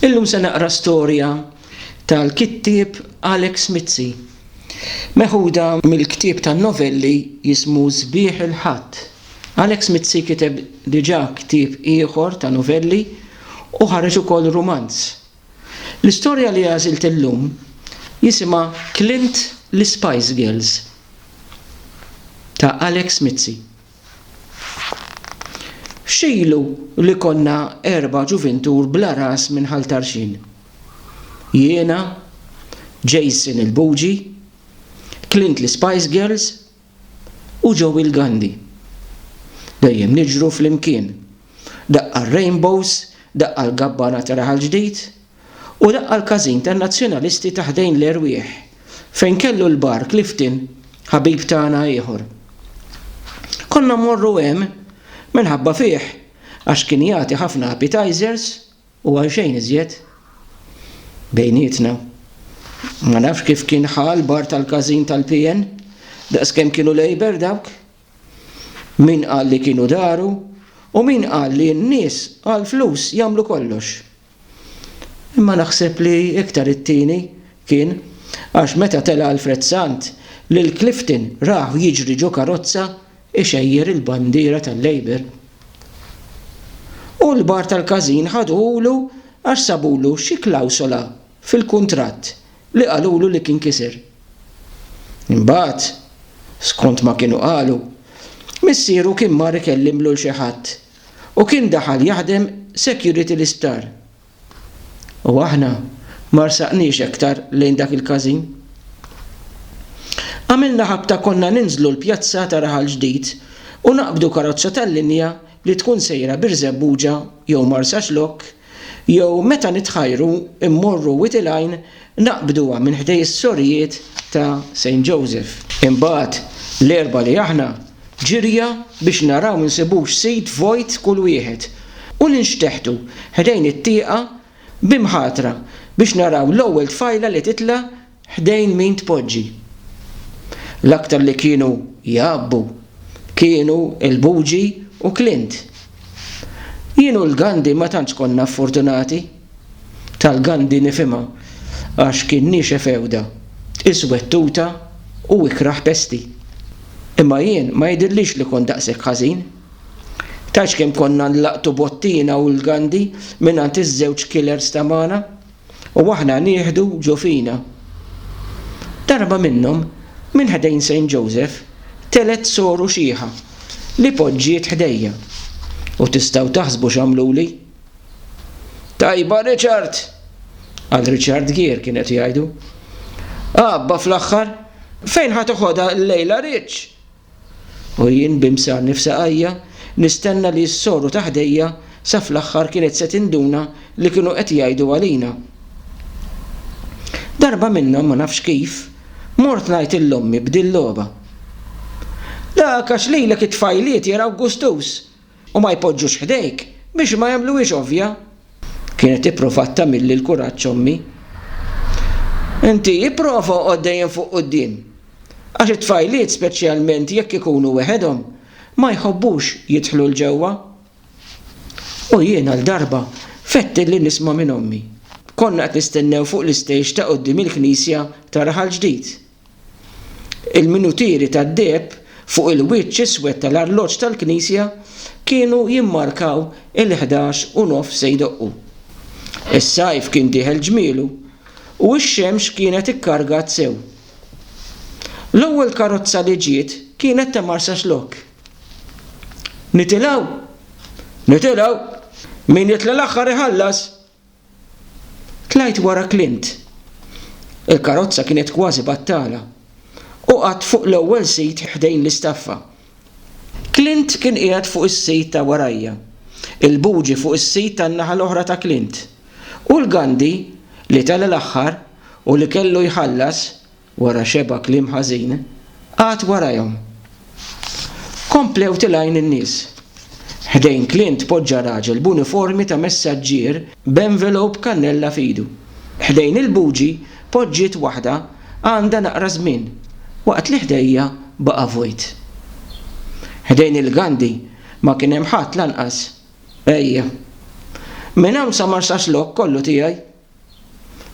Illum se naqra storja tal-kittieb Alex Mizzi, meħuda mill-ktieb ta' novelli jismu Sbiħ il-Ħadd. Alex Mizzi kiteb diġà ktieb ieħor ta' novelli u ħareġ ukoll rumanz. L-istorja li għażilt illum jisimha Clint l-Ispice Girls ta' Alex Mizzi. X'ilu li konna erba' ġuvintur bla ras minn Ħal Tarxien? Jiena, Jason il-Buġi, Clint l-Ispice Girls u Joey l-Gandhi. Dejjem niġru flimkien, daqqa r-Rainbows, daqqa l-Gabbana ta' Raħal Ġdid, u laqqa' l-każin tan-Nazzjonalisti ta' ħdejn l-erwieħ, fejn kellu l-Bar Clifton, ħabib tagħna ieħor. Konna mmorru hemm minħabba fih għax kien jagħti ħafna appetizers u għal xejn iżjed. Bejnietna. Ma nafx kif kien ħa l-bar tal-każin tal-PN, daqskemm kienu Labour dawk, Min qal li kienu daru u min qal li n-nies għall-flus jagħmlu kollox. Imma naħseb li iktar it-tieni kien għax meta tela' Alfred Sant lil Clifton rahu jiġri ġo karozza ixejjer il-bandiera tal-Labour. U l-bar tal-każin ħaduhulu għax sabulu xi klawsola fil-kuntratt li qalulu li kien kiser. Imbagħad, skont ma kienu qalu, missieru kien mar ikellimlu 'l xi ħadd u kien daħal jaħdem security l-isptar. U aħna ma rsaqniex aktar lejn dak il-każin. Għamilna ħabta konna ninżlu l-pjazza ta' Raħal Ġdid u naqbdu karozza tal-linja li tkun sejra Birżebbuġa jew Marsaxlokk, Jew meta nitħajru mmorru Wied il-Għajn naqbduha minn ħdej is-sorijiet ta' Saint Joseph. Imbagħad l-Erbgħa li aħna ġirja biex naraw insibux sit vojt kull wieħed u ninxteħtu ħdejn it-tieqa b'imħatra biex naraw l-ewwel tfajla li titla' Ħdejn min tpoġġi? L-aktar li kienu jgħabbu kienu l-Buġi u Clint. Jien u l-Gandhi ma tantx konna ffortunati. Tal-Gandhi nifhimha għax kien niexef f'għewda, iswed tuta u ikrah pesti. Imma jien ma jidhirlix li kont daqshekk ħażin. Tgħidx kemm konna nlaqtu bottina u l-Gandhi mingħand iż-żewġ killers ta' magħna. u aħna nieħdu ġo fina. Darba minnhom, minn ħdejn Saint Joseph telgħet soru xiħa li poġġiet ħdejja. U tistgħu taħsbu x'għamluli? Tajba Richard! qal Richard Gere kien qed jgħidu. Abba fl-aħħar, fejn ħa toħodha llejla Rich? U jien bi msarni f'saqajja, nistenna li jissoru ta' ħdejja sa fl-aħħar kienet se tinduna li kienu qed jgħidu għalina. Darba minnhom, ma nafx kif, mort ngħid lil ommi b'dil-logħba. Dak għax lilek it-tfajliet jaraw gustus! u ma jpoġġux ħdejk biex ma jagħmluhiex ovvja. Kienet ippruvat tagħmilli l-kuraġġ ommi. Inti ipprova oqgħod dejjem fuq quddiem, għax it-tfajliet speċjalment jekk ikunu weħedhom ma jħobbux jidħlu 'l ġewwa. U jien għal darba fettilli nisma' minn ommi. Konna qed nistennew fuq l-istejx ta' quddiem il-knisja ta' Raħal Ġdid. Il-minutieri tad-deheb fuq il-wiċċ iswed tal-arloġġ tal-knisja kienu jimmarkaw il-ħdax u nofs se jdoqqu. Is-sajf kien dieħel ġmielu, u x-xemx kienet ikkargat sew. L-ewwel karozza li ġiet kienet ta' Marsaxlokk. Nitilgħu? Nitilgħu! Min jitla' l-aħħar iħallas! Tlajt wara Clint. Il-karozza kienet kważi battala. Hu qagħad fuq l-ewwel sit ħdejn l-istaffa. Clint kien qiegħed fuq is-sit ta' warajja, il-buġi fuq is-sit tan-naħa l-oħra ta' Clint, u l-Gandhi, li tela' l-aħħar u li kellu jħallas, Wara xebgħa kliem ħażin għad warajhom. Komplew tilgħin in-nies. Ħdejn Clint poġġa raġel b'uniformi ta' messaġġier b'envelope kannella f'idu. Ħdejn il-bugi poġġiet waħda għandha naqra żmien, waqt li ħdejja baqa' vojt. Ħdejn il-Gandhi ma kien hemm ħadd lanqas. Ejja. Minn hawn sa Marsaxlokk kollu tiegħi.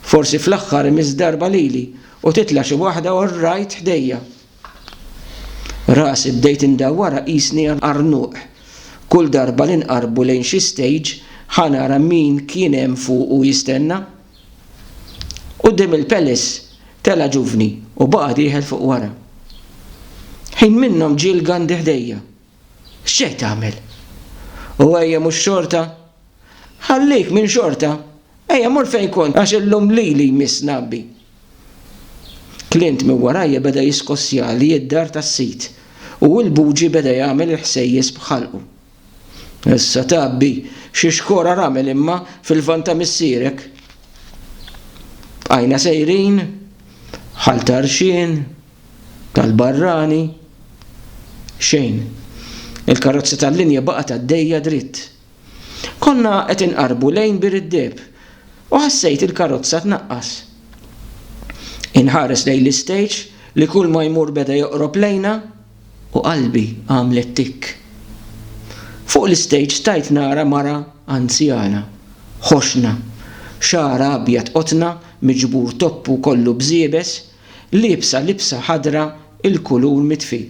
Forsi fl-aħħar imiss darba lili u titla' xi waħda u rrajt ħdejja. Rasi bdejt indawwarha qisni għarnuq. Kull darba li nqarrbu lejn xi stage ħa nara min kien hemm fuqu jistenna. Quddiem il-Palace tela' ġuvni u baqa' dieħel fuq wara. Ħin minnhom ġie l-Gandhi ħdejja. X'ġej tagħmel? U ejja mhux xorta? Ħallik minn xorta. Ejja mur fejn kont għax illum lili jmiss ngħabbi. Clint minn warajja beda jiskossjali id-dar tas-sid u l-buġi beda jagħmel il-ħsejjes b'ħalqu. Issa tgħabbi xi xkora ramel imma fil-lvant ta' missierek. Bqajna sejrin, ħal ta' rxien, tal-barrani, xejn. Il-karozza tal-linja baqgħet għaddejja dritt. Konna qed inqarbu lejn Bir id-Deheb u ħassejt il-karozza tnaqqas. Inħares lejn l-istage li kulma jmur beda joqrob lejna u qalbi għamlet tikk. Fuq l-istage stajt nara mara anzjana, ħoxna, xagħarha abjad qotna miġbur toppu kollu bżiebes, liebsa libsa ħadra l-kulur mitfi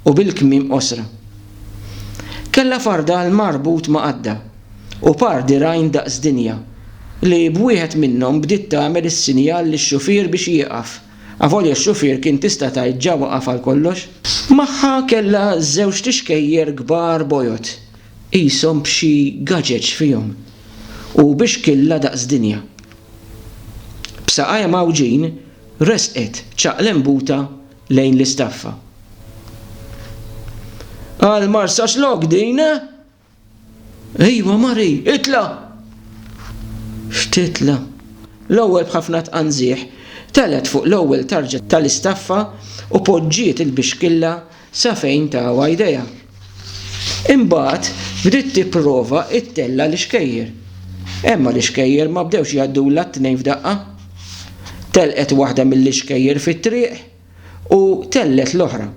u bil-kmiem qosra. Kellha fardal marbut ma' għadda u par dirgħajn daqs dinja li b'wieħed minnhom bdiet tagħmel is-sinjal lix-xufier biex jieqaf, avolja x-xufier kien tista' tgħid ġa waqaf għal kollox. Magħha kellha żewġt ixkejjer kbar bojod qishom b'xi gaġeġ fihom u bi xkilla daqs dinja. b'saqajha mgħawġin resqet ċaqlembuta lejn l-istaffa. Għal Marsaxlokk din? Ejwa Mari, itla! X'titla? L-ewwel b'ħafna tqanżieħ telet fuq l-ewwel tarġa tal-istaffa u poġġiet il-bixkilla sa fejn tawha jdejha. Imbagħad bdiet tipprova ttella' l-ixkejjer. Imma l-ixkejjer ma bdewx jgħaddulha t-tnejn f'daqqa. Telqet waħda mill-ixkejjer fit-triq u tellet l-oħra.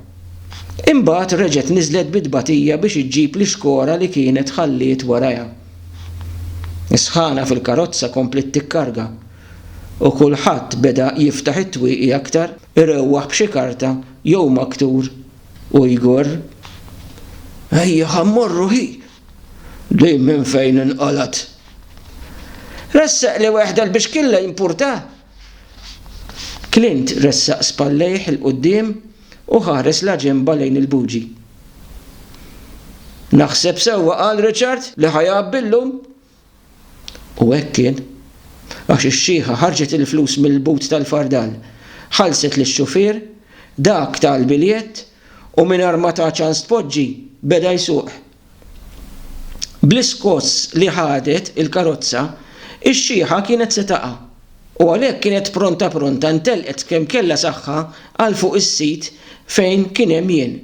Imbagħad reġgħet niżlet bi tbatija biex iġġib l-ixkora li kienet ħalliet warajha. Is-sħana fil-karozza kompliet tikkarga u kulħadd beda jiftaħ it-twieqi aktar. Irewwaħ b'xi karta jew maktur u jgorr. Ejja ħa mmorru hi! Din minn fejn inqalgħet? Ressaqli weħda l-bixkilla jimpurta? Clint ressaq spallejh 'il quddiem u ħares la ġenba lejn il-buġi. Naħseb sewwa qal Richard li ħa jgħabbi llum. U hekk kien. Għax ix-xiħa ħarġet il-flus mill-but tal-fardal, ħallset lix-xufier, dak ta l-biljett u mingħajr ma ta ċans tpoġġi, beda jsuq. Bl-iskoss li ħadet il-karozza, ix-xiħa kienet se taqa', u għalhekk kienet pronta pronta ntelqet kemm kellha saħħa għal fuq is-sit fejn kien hemm jien.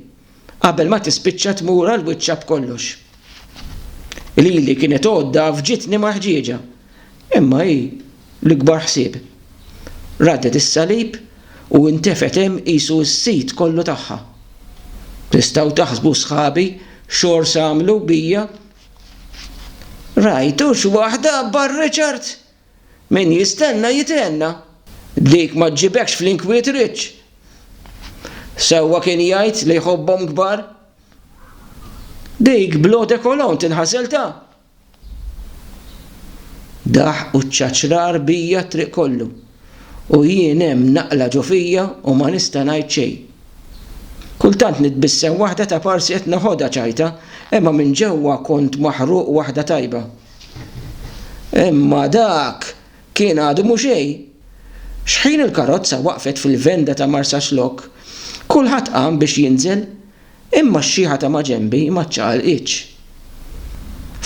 qabel ma tispiċċa tmur għal wiċċha b'kollox. Lili kienet għodda f'ġitni maħġieġa, imma hi l-ikbar ħsieb. Raddet is-salib u ntefgħet hemm qisu s-sid kollu tagħha. Tistgħu taħsbu sħabi x'għors għamlu bija? Rajtux waħda abbar Richard? Min jistenna jithenna. Dik ma ġġibekx fl-inkwiet riċċ. Sewwa kien jgħid li jħobbhom kbar. Dik bl-eau de cologne tinħasel ta'. Daħq u ċċaċrar bija t-triq kollu, u jien hemm naqla' ġo fija u ma nista' ngħid xejn. Kultant nitbissem waħda ta' parsi qed neħodha ċajta, imma minn ġewwa kont maħruq waħda tajba. Imma dak kien għadu mhu xejn. X'ħin il-karozza waqfet fil-venda ta' Marsaxlokk, kulħadd qam biex jinżel, imma x-xiħa ta' maġenbi ma ċċaqalqitx.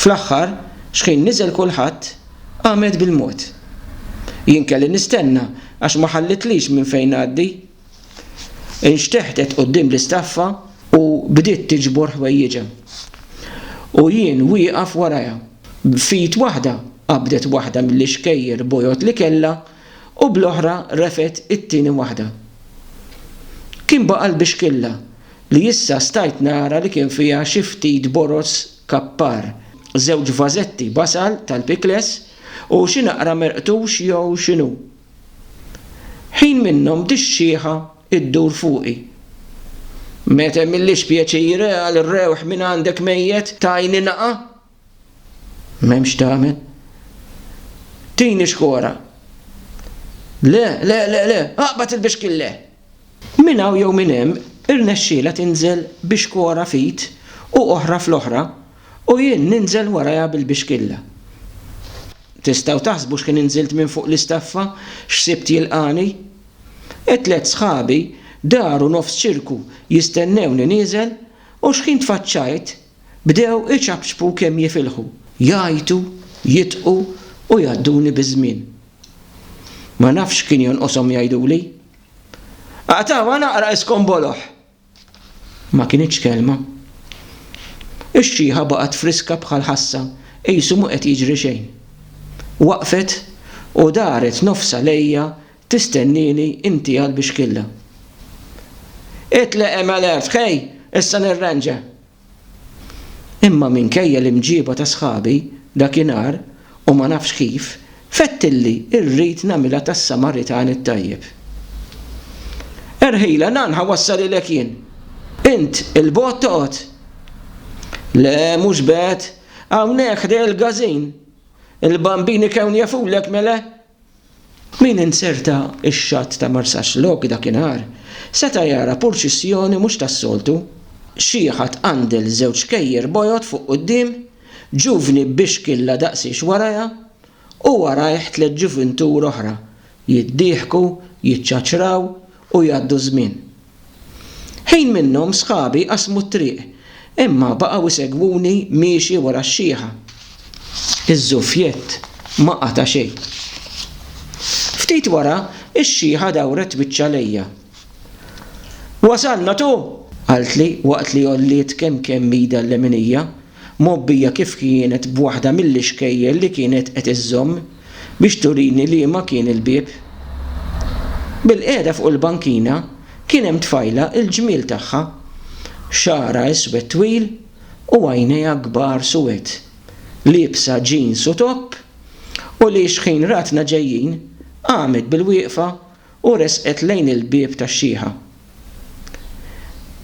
Fl-aħħar, x'ħin niżel kulħadd, qamet bil-mod. Jien kelli nistenna għax ma ħallitlix minn fejn ngħaddi. Inxteħtet quddiem l-istaffa u bdiet tiġbor ħwejjiġha. U jien wieqaf warajha. B'fid waħda qabdet waħda mill-ixkejjer bojod li kellha u bl-oħra refgħet it-tieni waħda. Kien baqa' l-bixkilla li issa stajt nara li kien fiha xi ftit boroż kappar, żewġ vażetti b'għasal tal-pickles u xi naqra merqtux jew x'inhu. Ħin minnhom dix-xieħa ddur fuqi. Meta jmillix pjaċir għal rewħ mingħandek mejjet tagħini nagħa? M'hemm x'tagħmel. Tini xkora. Le, le, le, le, aqbad il-bixkille! Minn hawn jew minn hemm irnexxielha tinżel bi xkora f'id u oħra fl-oħra u jien ninżel warajha bil-bixkilla. Tistgħu taħsbu x'kien inżilt minn fuq l-istaffa x'sibt jilqagħni? It-tliet sħabi daru nofs ċirku jistennewni nieżel u x'ħin tfaċċajt, Bdew iċapċpu kemm jifilħu, jgħajtu, jidħqu u jgħadduni biż-żmien. Ma nafx x'kien jonqoshom jgħiduli. Aqtgħuha naqra iskonboloh! Ma kinitx kelma. Ix-xiħa baqgħet friska bħal ħassa qisu mhu qed jiġri xejn. Waqfet u daret nofsha lejja Tistennieni inti għall-bixkilla? Itleq hemm Alert, ħej, issa nirranġa! Imma minkejja l-imġieba ta' sħabi dakinhar u ma nafx kif, fett illi rrid nagħmilha tas-Samaritan it-tajjeb. Erħilha nan ħa wassalilek jien. Int 'il bogħod toqgħod? Le, mhux b'hekk, hawnhekk ħdejja l-Gazin. Il-Bambini Kewn jafulek, mele? Min inzerta x-xatt ta' Marsaxlokk dakinhar, seta' jara purċissjoni mhux tas-soltu. Xieħat għandel żewġ kejjer bojod fuq quddiem, ġuvni b'bixkilla daqsiex warajha, u warajh tliet ġuvintur oħra, jiddieħku, jiċċaċraw u jgħaddu ż-żmien. Ħin minnhom sħabi qasmu t-triq, imma baqgħu jsegwuni miexi wara x-xiħa. Iż-żuffjett ma qata' xejn. Ftit wara, ix-xiħa dawret wiċċha lejja. Wasalna tu! qaltli waqt li għolliet kemm kemm idha l-leminija, mgħobbija kif kienet b'waħda mill-ixkejjel li kienet qed iżżomm. biex turini liema kien il-bieb. Bilqiegħda fuq il-bankina kien hemm tfajla il-ġmiel tagħha, xagħarha iswed twil u għajnejha kbar suwed, liebsa ġins u topp u li xħin ratna ġejjin qamet bilwieqfa u resqet lejn il-bieb tax-xieħa.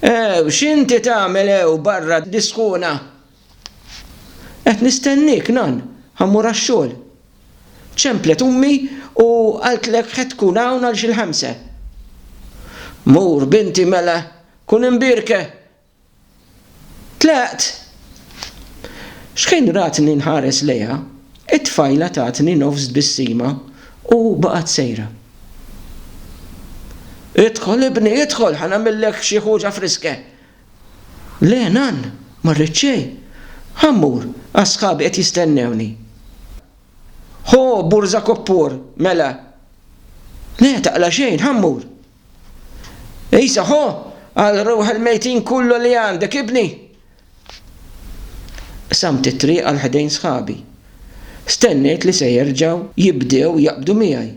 Ew, x'inti tagħmel hew barra disħuna? Qed nistenniek, nan, ħa mmur għax-xogħol. Ċemplet ummi u qaltlek ħed tkun hawn għal xi l-ħamsa. Mur, binti, mela, kun imbierka! Tlaqt. X'ħin ratni nħares lejha, it-tfajla tatni nofs tbissima u baqgħet sejra. Idħol, ibni, idħol, ħa nagħmillek xi ħuġa friska, Le, Nann, ma rrid xejn. Ħa mmur, għax sħabi qed jistennewni. Ħo, burża koppur, mela. Le, taqla' xejn, ħa mmur. Għisa, ħo, għal ruħ il-mejtin kullu li għandek, ibni. Qsamt it-triq għal ħdejn sħabi. Stennejt li se jerġgħu jibdew jaqbdu miegħi.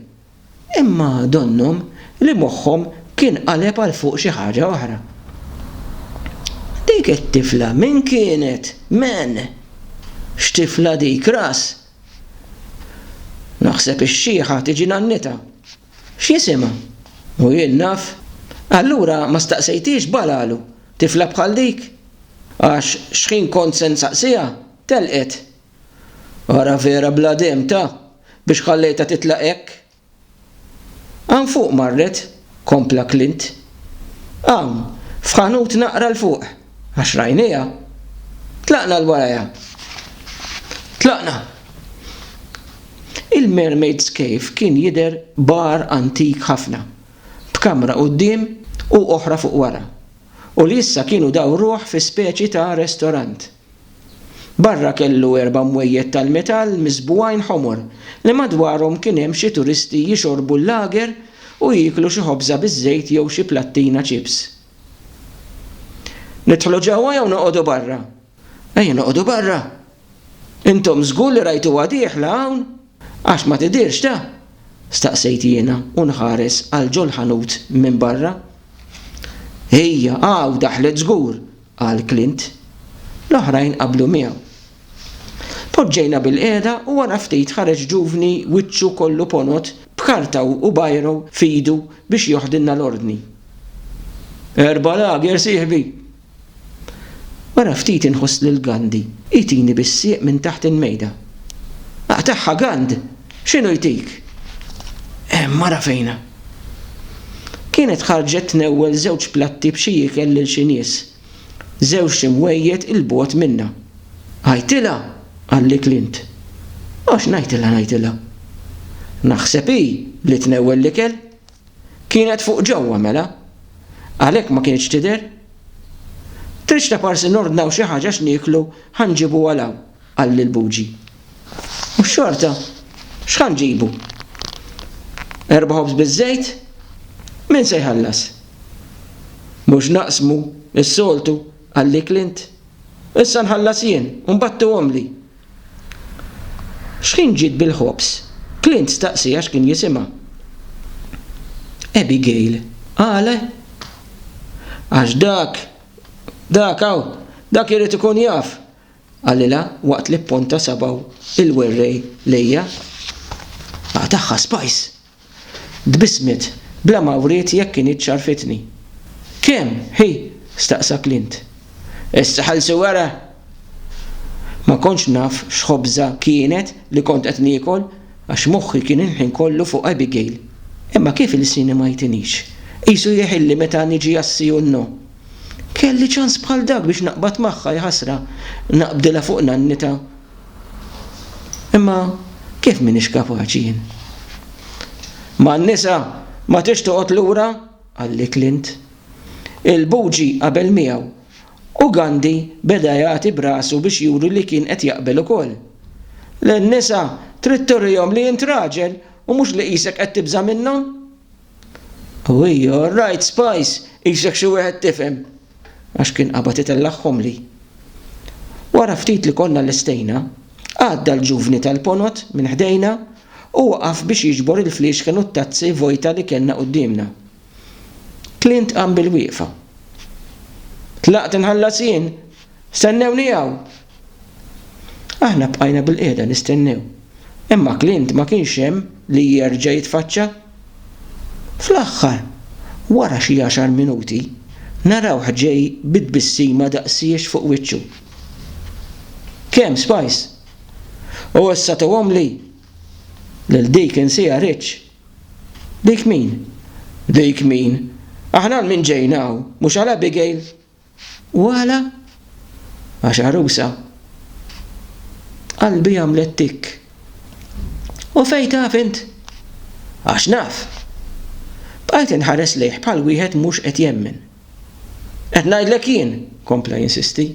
Imma donnhom li moħħhom kien qaleb għal fuq xi ħaġa oħra. Dik it-tifla min kienet? Men? X'tifla dik, ras? Naħseb ix-xiħa tiġi nannitha. X'jisimha? U jien naf? Allura ma staqsejthiex balalu, tifla bħal dik? Għax x'ħin kont se nsaqsiha, telqet. Ara vera bla demtha biex ħallejtha titlaq hekk! Hawn fuq marret, kompla Clint. Hawn, f'ħanut naqra 'l fuq, għax rajnieha. Tlaqna 'l warajha. Tlaqna! Il-Mermaid's Cave kien jidher bar antik ħafna, b'kamra quddiem u oħra fuq wara, u li issa kienu dawruh fi speċi ta' restorant. Barra kellu erba' mwejjed tal-metall miżbugħin ħomor li madwarhom kien hemm xi turisti jixorbu l-lager u jieklu xi ħobża biż-żejt jew xi plattina ċips. Nidħlu ġewwa jew noqogħdu barra? Ejja noqogħdu barra! Intom żgur li rajtuha dieħla hawn? Għax ma tidhirx ta? staqsejt jiena u nħares għal ġol-ħanut minn barra. Hija, hawn daħlet żgur! qal Clint. L-oħrajn qablu miegħu. Poġġejna bilqiegħda u wara ftit ħareġ ġuvni wiċċu kollu ponot b'karta u biro f'idu biex joħdilna l-ordni. Erba' lager, sieħbi! Wara ftit inħoss lil Gandhi jtini bis-sieq minn taħt il-mejda. Aqtagħha Gand! X'inhu jtik? Hemm mara fejna. Kienet ħarġet tnewwel żewġ platti b'xi ikel lil xi nies, żewġt imwejjed 'il bogħod minnha. Għidtilha, qalli Clint. Għax ngħidilha, ngħidilha. Naħseb hi li tnewwel l-ikel. Kienet fuq ġewwa, mela. Għalhekk ma kinitx tidher. Tridx taparsi nordnaw xi ħaġa x'nieklu ħa nġibuha 'l hawn. Qal lil Buġi, U xorta, x'ħa nġibu? Erba' ħobż biż-żejt? Min se jħallas? Mhux naqsmu, is-soltu, qalli Clint. Issa nħallas jien u mbagħad tuhomli. X'ħin ġiet bil-ħobż? Clint staqsi għax kien jisimha. Abigail, Għale? Għax dak, dak hawn, dak irid ikun jaf. Qalilha waqt li pponta sabgħu il-werrej lejja. Aq tagħha spajs! Tbissmet bla ma wriet jekk kinitx għarfitni. Kemm, hi? staqsa Clint. Issa ħalsu wara! Ma kontx naf x'ħobża kienet li kont qed niekol għax moħħi kien il-ħin kollu fuq Abigail. Imma kif ilsieni ma jtinix? Qisu jeħilli meta niġi għas-CUNO. Kelli ċans bħal dak biex naqbad magħha, jaħasra, naqbdilha fuq nannitha. Imma kif m'iniex kapaċi jien? Ma' n-nisa ma tridx toqgħod lura, qalli Clint. Il-Buġi qabel miegħu u Gandhi beda jagħti b'rasu biex juri li kien qed jaqbel ukoll. Lin-nisa trid turihom li int raġel u mhux li qisek qed tibża' minnhom. U hi, All right, Spice, qisek xi wieħed tifhem. Għax kien qabad itellagħhom li. Wara ftit li konna lestejna, għadda l-ġuvni tal-ponot minn ħdejna u waqaf biex jiġbor il-fliexken u t-tazzi vojta li kellna quddiemna. Clint qam bil-wieqfa. Tlaqt inħallas jien? Stennewni hawn! Aħna bqajna bilqiegħda nistennew, imma Clint ma kienx hemm li jerġa' jitfaċċa. Fl-aħħar, wara xi għaxar minuti, narawh ġej bi tbissima daqsiex fuq wiċċu. Kemm, Spice? U issa tuhomli! Lil dik insieha Rich. Dik min? Dik min? Aħna għal min ġejna hawn, mhux għal Abigail? U għala? Għax għarusa. Qalbi għamlet tikk. U fejn taf int? Għax naf! Bqajt inħares lejh bħal wieħed mhux qed jemmen. Qed ngħidlek jien! kompla jinsisti.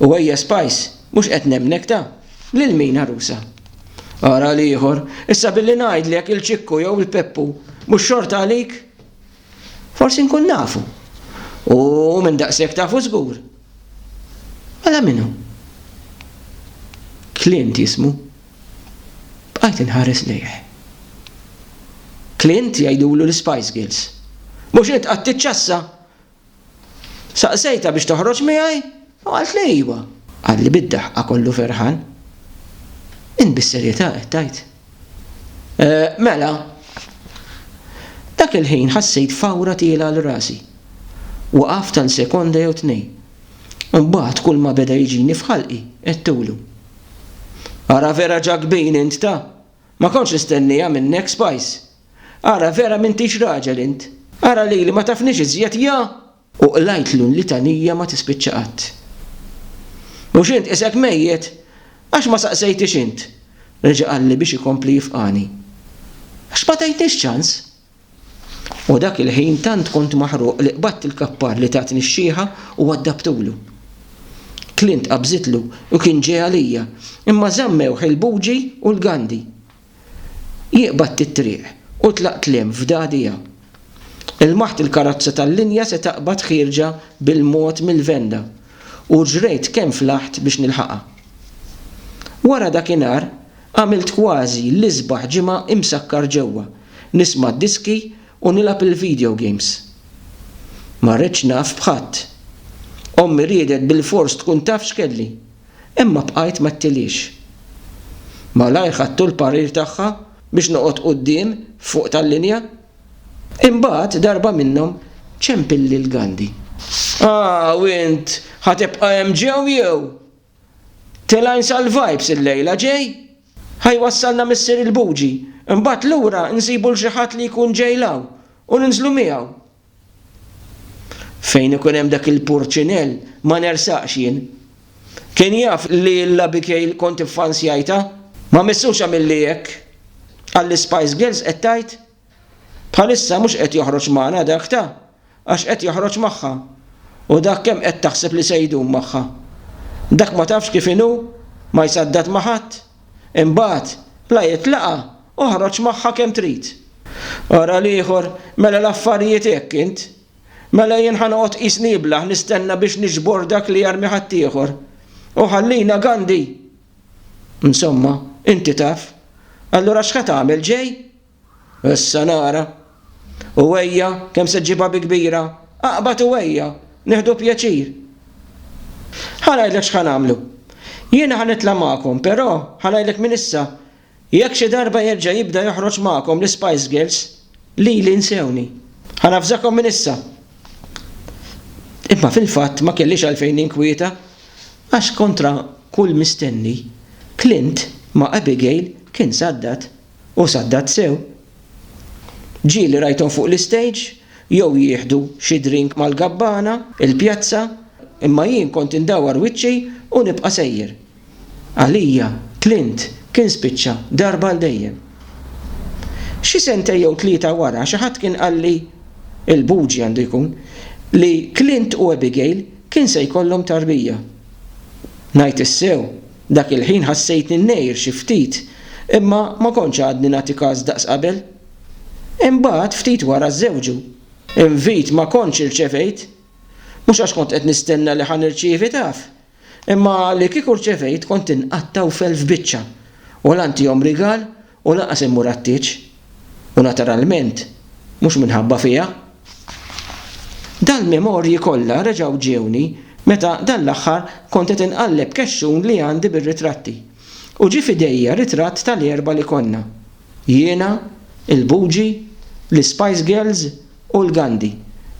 U ejja Spice, mhux qed nemmnek ta! Lil min għarusa? Ara l-ieħor, issa billi ngħidlek il-Ċikku jew il-Peppu, mhux xorta għalik? Forsi nkun nafu. U minn daqshekk tafu żgur. Mela min hu? Clint jismu. Bqajt inħares lejh. Clint jgħidulu l-Spice Girls. Mhux int qatt tiċċassa? Saqsejtha biex toħroġ miegħi u qaltli iwa. Qalli bid-daħqa kollu ferħan. Int bis-serjetà qed tgħid? Mela. Dak il-ħin ħassejt fawra tiela' għal rasi. Waqaft għal sekonda jew tnejn. Imbagħad kulma beda jiġini f'ħalqi għedtulu. Ara vera ġakbin int ta! Ma kontx nistennieha minnek Spice! Ara vera m'intix raġel int! Ara lili ma tafnix iżjed ja! U qlajtlu l-litanija ma tispiċċa qatt. Mhux int qisek mejjet? Għax ma saqsejtix int? reġa' qalli biex ikompli jifqagħni. Għax ma tajtnix ċans! U dak il-ħin tant kont maħruq li qbadt il-kappar li tatni x-xiħa u waddabtulu. Clint qabżitlu u kien ġej għalija, imma żammewh il-buġi u l-gandi. Jieqbad t-triq u tlaq tliem f'dagħdija. Ilmaħt il-karozza tal-linja se taqbad ħierġa bil-mod mill-venda u ġrejt kemm flaħt biex nilħaqha. Wara dakinhar għamilt kważi l-isbaħ ġimgħa imsakkar ġewwa, nisma' d-diski u nilgħab il-video games. Ma ridtx naf b'ħadd. Ommi riedet bilfors tkun taf x'kelli. Imma bqajt ma tiliex. Malajr ħadtu l-parir tagħha biex noqgħod quddiem fuq tal-linja. Imbagħad darba minnhom ċempilli l-gandi. Ah, u int ħa tibqa' hemm ġew jew? Tilgħin sal-vibes illejla, ġej? Ħa jwassalna Missier il-Buġi, imbagħad lura nsibu 'l xi ħadd li jkun ġej 'l hawn u ninżlu miegħu. Fejn ikun hemm dak il-purċinell ma nersaqx jien. Kien jaf li 'l Abigail kont iffansjajtha? Ma missux għamilli hekk? Għall-Ispice Girls qed tgħid? Bħalissa mhux qed joħroġ magħna dak ta' għax qed joħroġ magħha. U dak kemm qed taħseb li se jdum magħha? Dak ma tafx kif inhu? Ma jsaddad ma' ħadd? Imbagħad, la jitlaqa' u ħroġ magħha kemm trid. Ara l-ieħor, Mela l-affarijiet hekk int? Mela jien ħa noqgħod qisni iblah nistenna biex niġbor dak li jarmi ħaddieħor? U ħallina Gandhi! Insomma, inti taf. Allura x'ħa tagħmel ġej? Issa nara. U ejja, kemm se ġġibha bi kbira, aqbad u ejja, nieħdu pjaċir. Ħa ngħidlek x'ħa nagħmlu. Jiena ħa nitla' magħkom, però, ħa ngħidlek minn issa, jekk xi darba jerġa' jibda joħroġ magħkom l-Ispice Girls, lili nsewni. Ħa navżakom minn issa. Imma fil-fatt ma kellix għalfejn ninkwieta, għax kontra kull mistenni, Clint ma' Abigail kien saddat. U saddat sew. Ġieli rajthom fuq l-istage jew jieħdu xi drink mal-gabbana, il-pjazza, imma jien kont indawwar wiċċi u nibqa' sejjer. Għalija, Clint kien spiċċa darba għal dejjem. Xi sentej jew tlieta wara xi ħadd kien qalli, il-Buġi għandu jkun, li Clint u Abigail kien se jkollhom tarbija. Ngħid is-sew, Dak il-ħin ħassejtni ngħir xi ftit, imma ma kontx għadni nagħti kas daqs qabel. Imbagħad, ftit wara żżewġu, invit ma kontx irċevejt. Mhux għax kont qed nistenna li ħa nirċievi taf, imma li kieku rċevejt kont inqatta' u f'elf biċċa, u la ntihom rigal U lanqas immur għat-tieġ, u naturalment mhux minħabba fija. Dal-memorji kollha reġgħu ġiewni meta dan l-aħħar kont qed inqalleb kexxun li għandi bir-ritratti, u ġie f'idejja ritratt tal-erba' li konna, jiena, il-Buġi, l-Ispajs Girls u l-Gandi,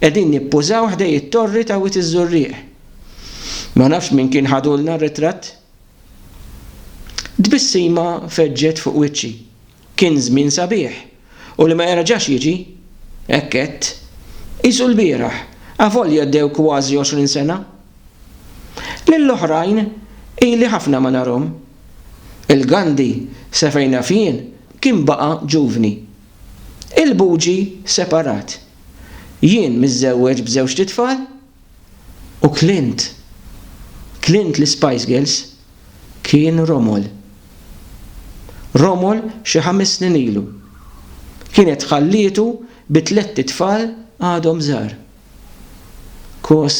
qegħdin nippużaw ħdej it-torri ta' Wied iż-Żurrieq. Ma nafx min kien ħadulna r-ritratt. Tbissima feġġet fuq wiċċi. Kien żmien sabiħ, u li ma jerġax jiġi. Hekk għedt. Qisu l-bieraħ, avolja għaddew kważi għoxrin sena. Lill-oħrajn ili ħafna ma narhom. Il-Gandhi, sa fejn naf jien, kien baqa' ġuvni. Il-Buġi separat. Jien miżżewweġ b'żewġt itfal. u Clint, Clint l-Ispice Girls, kien Romol. Romol xi ħames snin ilu. Kienet ħallietu bi tlett itfal għadhom żgħar. Kos.